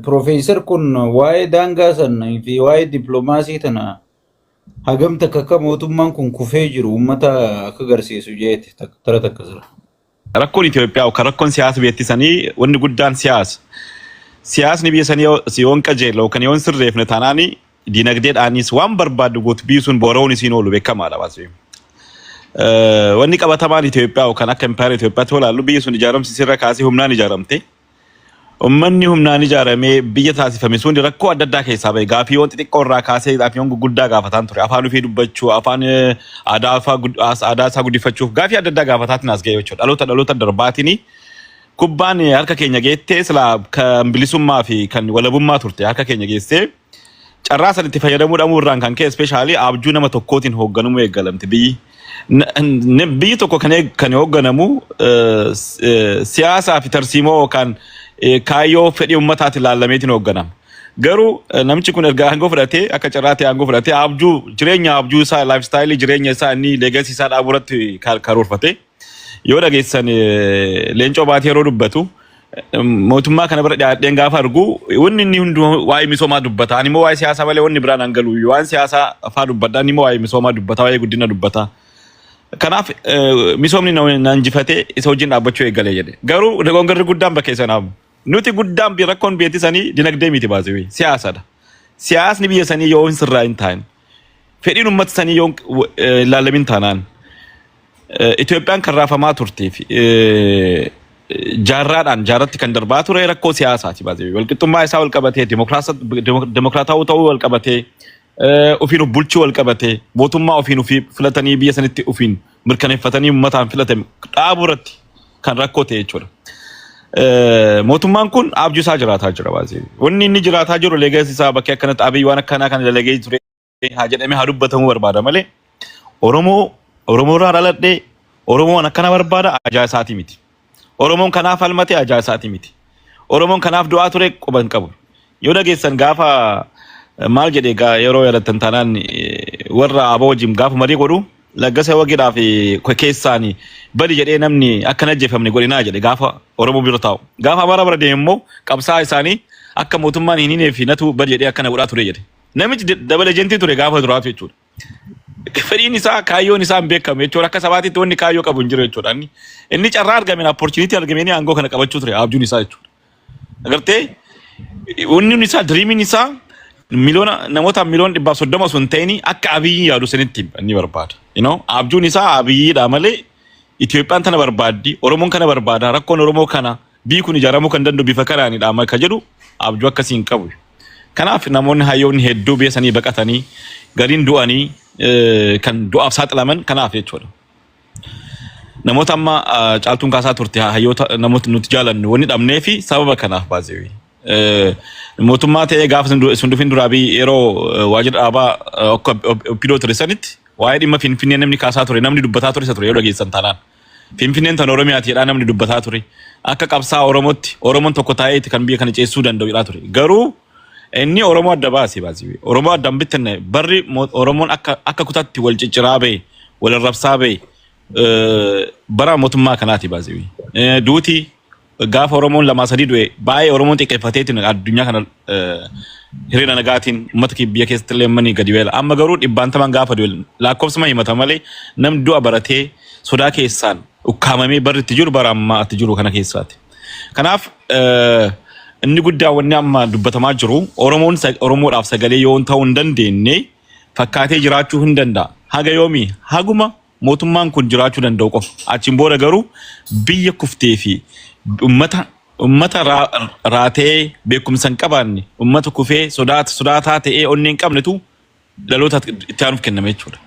Profeesar kun waa'ee daangaa sana fi waa'ee dippiloomaasii tana hagam takka akka mootummaan kun kufee jiru uummata akka agarsiisu jeete tak- tara takka jira. Rakkoon Itoophiyaa yookaan rakkoon siyaasa biyyattii sanii wanni guddaan siyaasa. Siyaasni biyya sanii yoo si- yoon qajeela yookaan yoon sirreefne taanaan dinagdeedhaanis waan barbaaddu gootu biisuun boora'uun isiin oolu beekamaadha waan ta'eef. Eh, Wanni qabatamaan Itoophiyaa yookaan akka impaayera Itoophiyaatti yoo ilaallu biyyi sun ijaaramsi sirra kaasee humnaan ijaaramte. Ummanni humnaan ijaaramee biyya taasifame sun rakkoo adda addaa keessaa bahe. Gaaffiiwwan xixiqqoo irraa kaasee gaaffiiwwan gurguddaa gaafataan ture. Afaan ofii dubbachuu, afaan aadaa isaa guddifachuuf gaaffii adda addaa gaafataatiin as ga'e jechuudha. Dhaloota dhaloota darbaatiin kubbaan harka keenya geettee silaa kan bilisummaa fi kan walabummaa turte harka keenya geessee Carraa san itti fayyadamuu dhabuu irraan kan ka'e ispeeshaalii abjuu nama tokkootiin hoogganamuu eegalamte biyyi. N- n- Biyyi tokko kan eeg- kan hoogganamu eh, s- eh, siyaasaa fi tarsiimoo yookaan eh, kaayyoo fedhii ummataati ilaalameetiin hoogganama. Garuu eh, namichi kun erga aangoo fudhatee akka carraa ta'e aangoo fudhatee abjuu jireenya abjuu isaa laayifstaayilii jireenya isaa inni leegasii isaa dhaabuu irratti ka- karoorfate. Yoo dhageessan eh, leencoo baatee yeroo dubbatu eh, mootummaa kana bira dhiyaadheen gaafa argu wanni inni hundi waa'ee misoomaa dubbata. Ani immoo waa'ee siyaasaa malee wanni biraan an galu waan siyaasaa faa dubbadha. Ani immoo waa'ee misoomaa dubbata, waa'ee guddina dubbata. Kanaaf eh, misoomni na na injifatee isa wajjin dhaabbachuu eegalee jedhe. Garuu dogongarri guddaan bakka isa naamu. Nuti guddaan bi- rakkoon biyya sanii dinagdee miti baasee siyaasadha. Siyaasni biyya sanii yoo hin sirraa hin taane fedhiin uummata sanii yoo hin- eh, hin laalamin taanaan Itoophiyaan kan raafamaa turtee fi jaarraadhaan jaarratti kan darbaa ture rakkoo siyaasaati baasee walqixxummaa isaa walqabatee dimokiraatawuu ta'uu walqabatee ofiin of bulchuu walqabatee mootummaa ofiin ofii filatanii biyya sanitti ofiin mirkaneeffatanii uummataan filatame dhaabuu irratti kan rakkoo ta'e jechuudha. Mootummaan kun abjuu isaa jiraataa jira baasee wanni inni jiraataa jiru leegasi isaa bakkee akkanatti abiy waan akkanaa kan dalagee ture. haa jedhamee haa dubbatamuu barbaada malee Oromoo Oromoo irraa dhaladhee Oromoon akkana barbaada ajaa isaatii miti. Oromoon kanaaf falmate ajaa isaatii miti. Oromoon kanaaf du'aa ture quba hin qabu. Yoo dhageessan gaafa eh, maal jedhe gaa yeroo yaadattan taanaan eh, warra aboo wajjin gaafa marii godhu laggasa wagidhaa fi ke- keessaani bali jedhee namni akka hin ajjeefamne godhinaa jedhe gaafa Oromoo bira taa'u. Gaafa Amaaraa bira deemu immoo qabsaa isaanii akka mootummaan hin hinee fi natu bali jedhee akkana godhaa ture jedhe. Namichi d- dabal ejentii ture gaafa duraatu jechuudha. Fedhiin isaa kaayyoon isaa hin beekamu jechuudha. Akka sabaatitti wanni kaayyoo qabu hin jiru jechuudha. Inni, inni carraa argameen opportunity argameen aangoo kana qabachuu ture abjuun isaa jechuudha. Agartee wanni isaa diriimiin isaa miliyoona namoota miliyoona dhibbaaf soddoma osoo hin ta'in akka abiyyi yaadu sanitti inni barbaada. You know, abjuun isaa abiyyiidha malee Itoophiyaan tana barbaaddi, Oromoon kana barbaada, rakkoon Oromoo kana. B. Kun ijaaramuu kan danda'u bifa kanaani dha ka jedhu abjuu akkasii hin qabu. Kanaaf namoonni hayyoonni hedduu biyya sanii baqatanii gariin du'anii kan du'aaf saaxilaman kanaaf jechuudha. Namoota amma caaltuun kaasaa turte hayyoota namoota nuti jaalannu wanni dhabnee fi sababa kanaaf baazeewii. Mootummaa ta'ee gaafa sun dhufin duraa biyyi yeroo waajjira dhaabaa akka oppidoo ture sanitti waa'ee dhimma finfinnee namni kaasaa ture namni dubbataa ture isa ture yoo dhageessan taanaan. Finfinneen tan Oromiyaati jedhaa namni dubbataa ture. Akka qabsaa Oromootti Oromoon tokko taa'eeti kan biyya kana ceessuu danda'u jedhaa ture. Garuu inni Oromoo adda baase baasii. Oromoo adda hin bittinne barri mo- Oromoon akka akka kutaatti wal cicciraa ba'e, wal arrabsaa ba'e eh, bara mootummaa kanaati baasii. Eh, Duuti Gaafa Oromoon lamaa sadii du'e baay'ee Oromoon xiqqeeffateetiin addunyaa kana eh, hiriira nagaatiin uummata kee biyya keessatti illee manii gadi weela. Amma garuu dhibbaantamaan gaafa du'e lakkoofsuma himata malee namni du'a baratee sodaa keessaan ukkaamamee barri itti jiru bara ammaa itti jiru kana keessaati. Kanaaf eh, inni guddaa wanni amma dubbatamaa jiru Oromoon sa- Oromoodhaaf sagalee yoo ta'uu hin dandeenye fakkaatee jiraachuu hin danda'a. Haga yoomii haguma Mootummaan kun jiraachuu danda'u qofa. Achiin booda garuu biyya kuftee fi ummata ummata raa, raatee beekumsa hin qabaanne, ummata kufee sodaat, sodaataa ta'ee onnee hin qabnetu dhaloota itti aanuuf kenname jechuudha.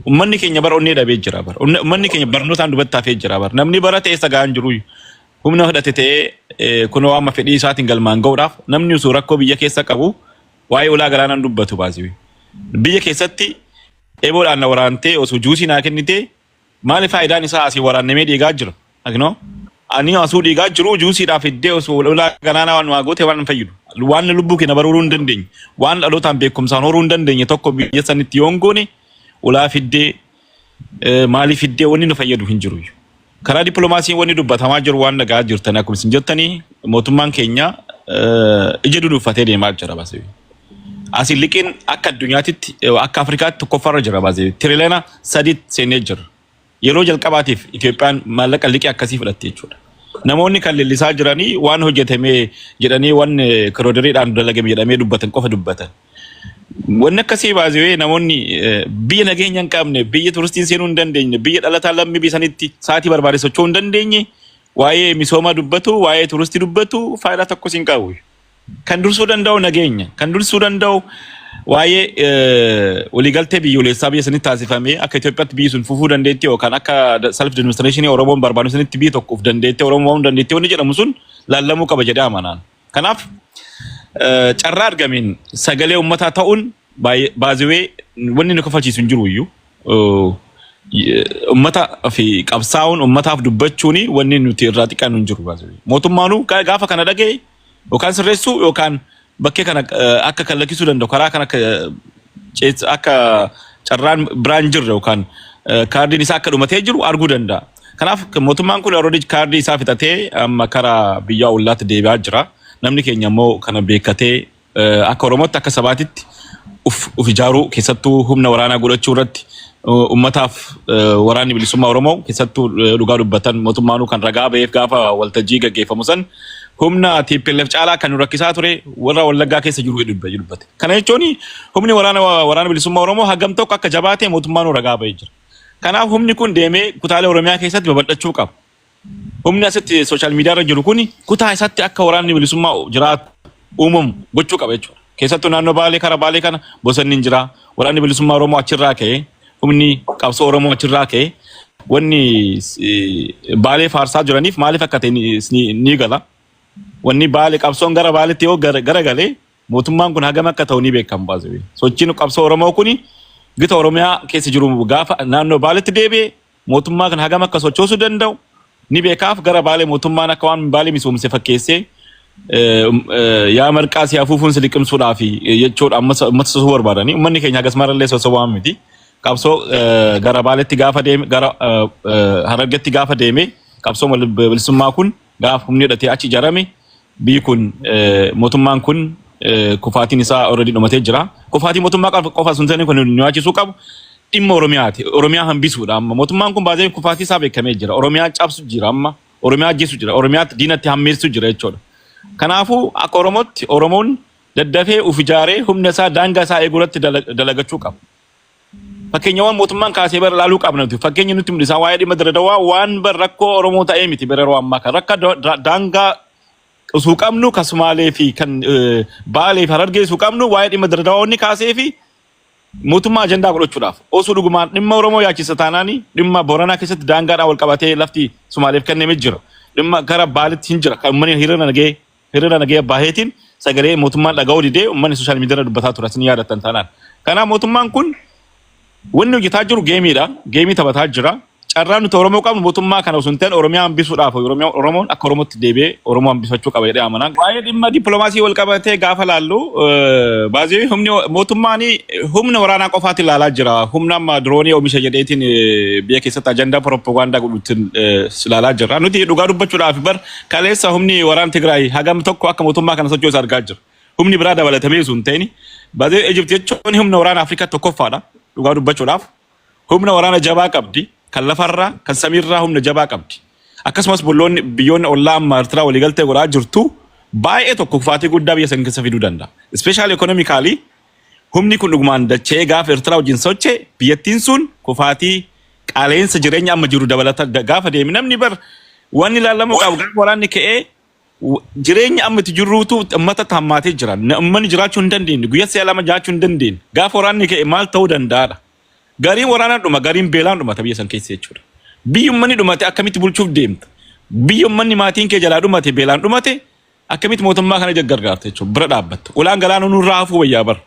Ummanni keenya bara onnee dhabee jira bara. Unne- Ummanni keenya barnootaan dubatti hafee jira bara. Namni barate eessa ga'aa hin jiru. Humna hidhate ta'ee eh, kunoo amma fedhii isaatiin galmaan ga'uudhaaf namni osoo rakkoo biyya keessa qabu waa'ee ulaa galaanaan dubbatu baasiwi. Biyya keessatti Eeboodhaan na waraantee osoo juusii naa kennitee maali faayidaan isaa asii waraannamee dhiigaa jira. Akino ani asuu dhiigaa jiru juusiidhaa fiddee osoo lolaa ganaanaa waan waa goote waan hin fayyidu. Waan lubbuu kee na baruuruu hin dandeenye. Waan dhalootaan beekumsaan horuu hin dandeenye tokko biyya sanitti yoon goone ulaa fiddee eh, maalii fiddee wanni nu fayyadu hin jiru. Karaa diplomaasiin wanni dubbatamaa jiru waan dhaga'aa jirtan akkuma isin jettanii mootummaan keenya ija dunuuffatee deemaa jira baasee. Asiin liqiin akka addunyaatitti akka Afrikaatti tokkoffaarra jira baasee tirileena sadii seenee jira. Yeroo jalqabaatiif Itoophiyaan maallaqa liqii akkasii fudhatte jechuudha. Namoonni kan leellisaa jiranii waan hojjetame jedhanii waan kiroodiriidhaan dalagame jedhamee dubbatan qofa dubbatan. Wanni akkasii baasiwee namoonni eh, biyya nageenya hin qabne, biyya turistiin seenuu hin dandeenye, biyya dhalataa lammii biyya sanitti sa'aatii barbaade socho'uu hin dandeenye, waa'ee misoomaa dubbatu, waa'ee turistii dubbatu faayidaa tokkos hin qabu. Kan dursuu danda'u nageenya, kan dursuu danda'u waa'ee eh, waliigaltee biyyoolessaa biyya sanitti taasifamee akka Itoophiyaatti biyyi sun fufuu dandeetti yookaan akka self demonstration Oromoon barbaadu sanitti biyya tokkoof dandeetti Oromoon dandeetti wanni jedhamu sun laallamuu qaba jedhee amanaan. Kanaaf carraa argameen sagalee uummataa ta'uun baaziwee wanni nu kafalchiisu hin jiru iyyuu. Uummata fi qabsaa'uun uummataaf dubbachuun wanni nuti irraa xiqqaan hin jiru baaziwee. Mootummaanuu gaafa kana dhaga'e yookaan sirreessuu yookaan bakkee kana akka kan lakkisuu danda'u karaa kan akka akka carraan biraan jirre yookaan kaardiin isaa akka dhumatee jiru arguu danda'a. Kanaaf mootummaan kun already kaardii isaa fixatee amma karaa biyyaa ollaatti deebi'aa jira. Namni keenya immoo kana beekkatee eh, akka Oromootti akka sabaatitti uf uf ijaaruu keessattuu humna waraanaa godhachuu irratti eh, ummataaf eh, waraanni bilisummaa Oromoo keessattuu eh, dhugaa dubbatan mootummaanuu kan ragaa ba'eef gaafa waltajjii gaggeeffamu san humna TPLF caalaa kan nu rakkisaa ture warra wallaggaa keessa jiru jedhu dubba- dubbate. Kana jechuun humni waraana waraana bilisummaa Oromoo hagam tokko akka jabaate mootummaanuu ragaa ba'ee jira. Kanaaf humni kun deemee kutaalee Oromiyaa keessatti babal'achuu qaba. Humni asitti sooshaal miidiyaa irra jiru kun kutaa isaatti akka waraanni bilisummaa jiraatu uumamu gochuu qaba jechuudha. Keessattuu naannoo Baalee kara Baalee kana bosonni hin jira. Waraanni bilisummaa Oromoo achirraa ka'e humni qabsoo Oromoo achirraa ka'e wanni eh, Baalee faarsaa jiraniif maaliif akka ta'e ni- ni ni gala. Wanni Baalee qabsoon gara Baaleetti yoo gara gara galee Mootummaan kun hagam akka ta'u ni beekama by the way. Sochiin qabsoo Oromoo kun gita Oromiyaa keessa jiru gaafa naannoo Baaletti deebi'e mootummaa kana hagam akka sochoosuu danda'u ni beekaaf gara Baalee mootummaan akka waan Baalee misoomse fakkeessee eh, um, eh, yaa marqaa si afuufuun si liqimsuudhaa fi eh, jechuudha ammas ammas sosuu barbaadanii ummanni keenya hagas marallee sosobaa miti. Qabsoo eh, gara Baaletti gaafa deeme gara eh, eh, Harargetti gaafa deeme qabsoo bilisummaa kun Gaaf humni hidhatee achi ijaarame biyyi kun mootummaan kun kufaatiin isaa already dhumatee jira. Kufaatii mootummaa qofa qofa sun ta'in kun nu yaachisuu qabu dhimma Oromiyaati. Oromiyaa hambisuudha amma. Mootummaan kun baazee kufaatii isaa beekamee jira. Oromiyaa cabsu jira amma. Oromiyaa ajjeesu jira. Oromiyaatti diinatti hammeessu jira jechuudha. Kanaafuu akka Oromootti Oromoon daddafee uf ijaaree humna isaa daangaa isaa eeguu irratti dala- dalagachuu qaba. Fakkeenyawwan mootummaan kaasee bara ilaaluu qabna nuti. Fakkeenya nutti mul'isaa waa'ee dhimma Dirre Dawaa waan bar rakkoo Oromoo ta'ee miti bara yeroo ammaa kan rakka daangaa osoo qabnu kan Sumaalee fi kan Baalee fi Harargee osoo qabnu waa'ee dhimma Dirre Dawaa wanni kaasee fi mootummaa ajandaa godhachuudhaaf osoo dhugumaan dhimma Oromoo yaachisa taanaanii dhimma Booranaa keessatti daangaadhaan wal qabatee lafti Sumaaleef kenname jira. Dhimma gara Baalitti hin jira kan uummanni hiriira nagee Hiriira nagaya baheetiin sagalee mootummaan dhaga'uu didee uummanni sooshaal miidiyaarra dubbataa ture isin yaadattan taanaan. Kanaaf mootummaan kun wanni hojjetaa jiru geemiidha. Geemii taphataa jira. Carraan nuti Oromoo qabnu mootummaa kana osoo hin ta'in Oromiyaa hambisuudhaaf Oromiyaa Oromoon akka Oromootti deebi'ee Oromoo hambifachuu qaba jedhee amana. Waa'ee dhimma dippiloomaasii wal qabatee gaafa laallu eh, baay'ee humni mootummaan humna waraanaa qofaatti ilaalaa jira. Humna amma diroonii oomisha jedheetiin eh, biyya keessatti ajandaa pirooppagandaa godhuutiin eh, ilaalaa jira. Nuti dhugaa dubbachuudhaaf bar Kaleessa humni waraan Tigraay hagam tokko akka mootummaa kana sochoosa argaa jira. Humni biraa dabalatamee sun ta'in badee Ejipti jechuun humna waraana Afrikaa tokkoffaadha dhugaa dubbachuudhaaf. Humna waraana jabaa qabdi kan lafarraa kan samiirraa humna jabaa qabdi. Akkasumas bulloonni biyyoonni ollaa amma Ertiraa waliigaltee godhaa jirtu baay'ee tokko kufaatii guddaa biyya san keessa fiduu danda'a. Ispeeshaal ekonomikaalii Humni kun dhugumaan dacha'ee gaafa Ertiraa wajjin socha'e biyyattiin sun kufaatii qaala'insa jireenya amma jiru dabalata gaafa deeme namni bar wanni ilaalamuu qabu gaafa waraanni ka'ee jireenya amma itti jirruutu ummata hammaatee jira. Uummanni jiraachuu hin dandeenye guyyaa si'a lama jiraachuu hin dandeenye gaafa waraanni ka'e maal ta'uu danda'aadha. Gariin waraanaan dhuma gariin beelaan dhumata biyya san keessa jechuudha. Biyyi uummanni dhumate akkamitti bulchuuf deemta? Biyya uummanni maatiin kee jalaa dhumate beelaan dhumate Akkamitti mootummaa kana jaggargaarta jechuun bira dhaabbatta. Ulaan galaanuu nurraa hafuu wayyaa bar.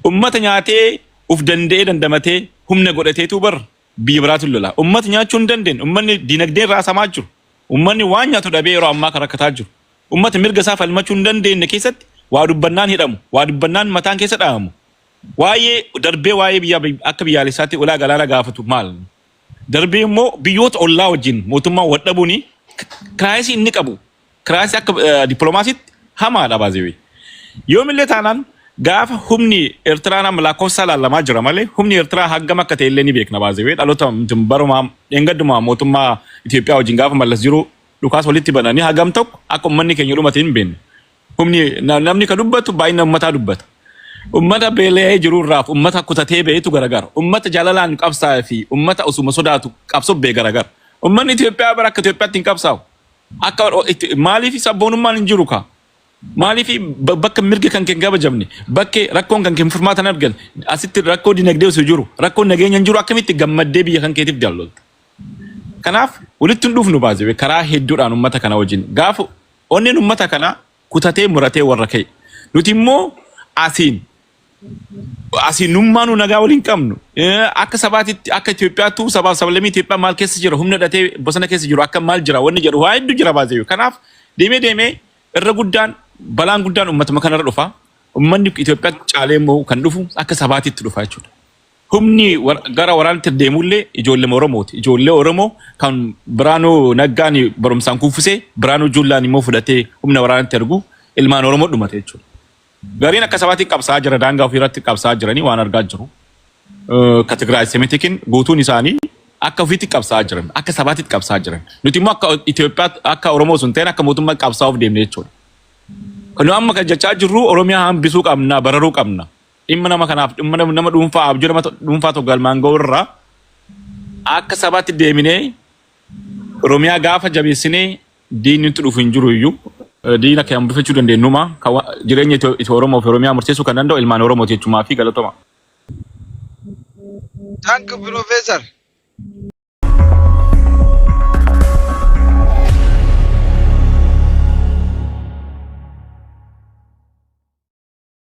Ummata nyaatee uf danda'ee dandamatee humna godhateetuu bar biyya biraatiin lolaa. Ummata nyaachuu hin dandeenye. Ummanni dinagdee irraa samaa jiru. Ummanni waan nyaatu dhabee yeroo ammaa kan rakkataa jiru. Ummata mirga isaa falmachuu hin dandeenye keessatti waa dubbannaan hidhamu, waa dubbannaan mataan keessa dhahamu. Waa'ee darbee waa'ee biyya akka biyyaalessaatti ulaa galaana gaafatu maal? Darbee immoo biyyoota ollaa wajjin mootummaan wal dhabuun kiraayisii inni qabu Kiraayisii akka dippiloomaasiitti hamaadha baazeewee. Yoomillee taanaan gaafa humni Eertiraan amma lakkoofsaa laallamaa jira malee humni Eertiraa hangam akka ta'e illee ni beekna baazeewee dhaloota barumaa dheengaddumaa mootummaa Itoophiyaa wajjin gaafa mallas jiru dhukaas walitti bananii hagam tokko akka ummanni keenya dhumate hin beekna. Humni namni ka dubbatu baay'ina ummataa dubbata. Ummata beela'ee jiru irraaf ummata kutatee ba'etu garagara. Ummata jaalalaan qabsaa'ee fi ummata osuma sodaatu qabsoo ba'e garagara. Ummanni Itoophiyaa bara akka Itoophiyaatti hin qabsaa'u. Akka itti maaliif sabboonummaan hin jiru kaa? Maaliif ba- bakka mirga kan kee hin kabajamne, bakka rakkoon kan kee hin furmaatan argan, asitti rakkoo dinagdee osoo jiru, rakkoo nageenya hin jiru akkamitti gammaddee biyya kan keetiif dallolta? Kanaaf walitti hin dhufnu baasee karaa hedduudhaan uummata kana wajjin gaafa onneen uummata kana kutatee muratee warra ka'e. Nuti immoo asiin Asii nummaanuu nagaa wal hin qabnu. Eh, Akka sabaatitti akka Itoophiyaattuu sabaaf sablammii Itoophiyaa maal keessa jira humna hidhatee bosona keessa jiru akka maal jira wanni jedhu waa hedduu jira baasee. Kanaaf deemee deemee irra guddaan balaan guddaan uummatuma kanarra dhufa. Uummanni Itoophiyaa caalee immoo kan dhufu akka sabaatitti dhufa jechuudha. Humni war- gara waraanatti deemullee ijoollee Oromooti. Ijoollee Oromoo kan Biraanuu Naggaan barumsaan kuffisee Biraanuu Juullaan immoo fudhatee humna waraanatti ergu ilmaan Oromoo dhumate jechuudha. Gariin akka sabaatiin qabsaa'aa jira daangaa ofii irratti qabsaa'aa jiranii waan argaa jiru. Ka Tigraay Semitikiin guutuun isaanii akka ofiitti qabsaa'aa jiran akka sabaatitti qabsaa'aa jiran. Nuti immoo akka Itoophiyaa akka Oromoo sun ta'een akka mootummaa qabsaa'uuf deemne jechuudha. Kan nu amma kan jechaa jirru Oromiyaa hambisuu qabna bararuu qabna. Dhimma nama kanaaf dhimma nama nama dhuunfaa abjuu nama to- dhuunfaa tokko galmaan ga'u irraa akka sabaatti deeminee Oromiyaa gaafa jabeessinee Diinni nutti dhufu hin jiru iyyuu diina kee hambifachuu dandeenyu numa kan wa- jireenya Itoo- Itoo Oromoo fi Oromiyaa murteessuu kan danda'u ilmaan Oromooti jechumaa fi galatoma. Thank you, Professor.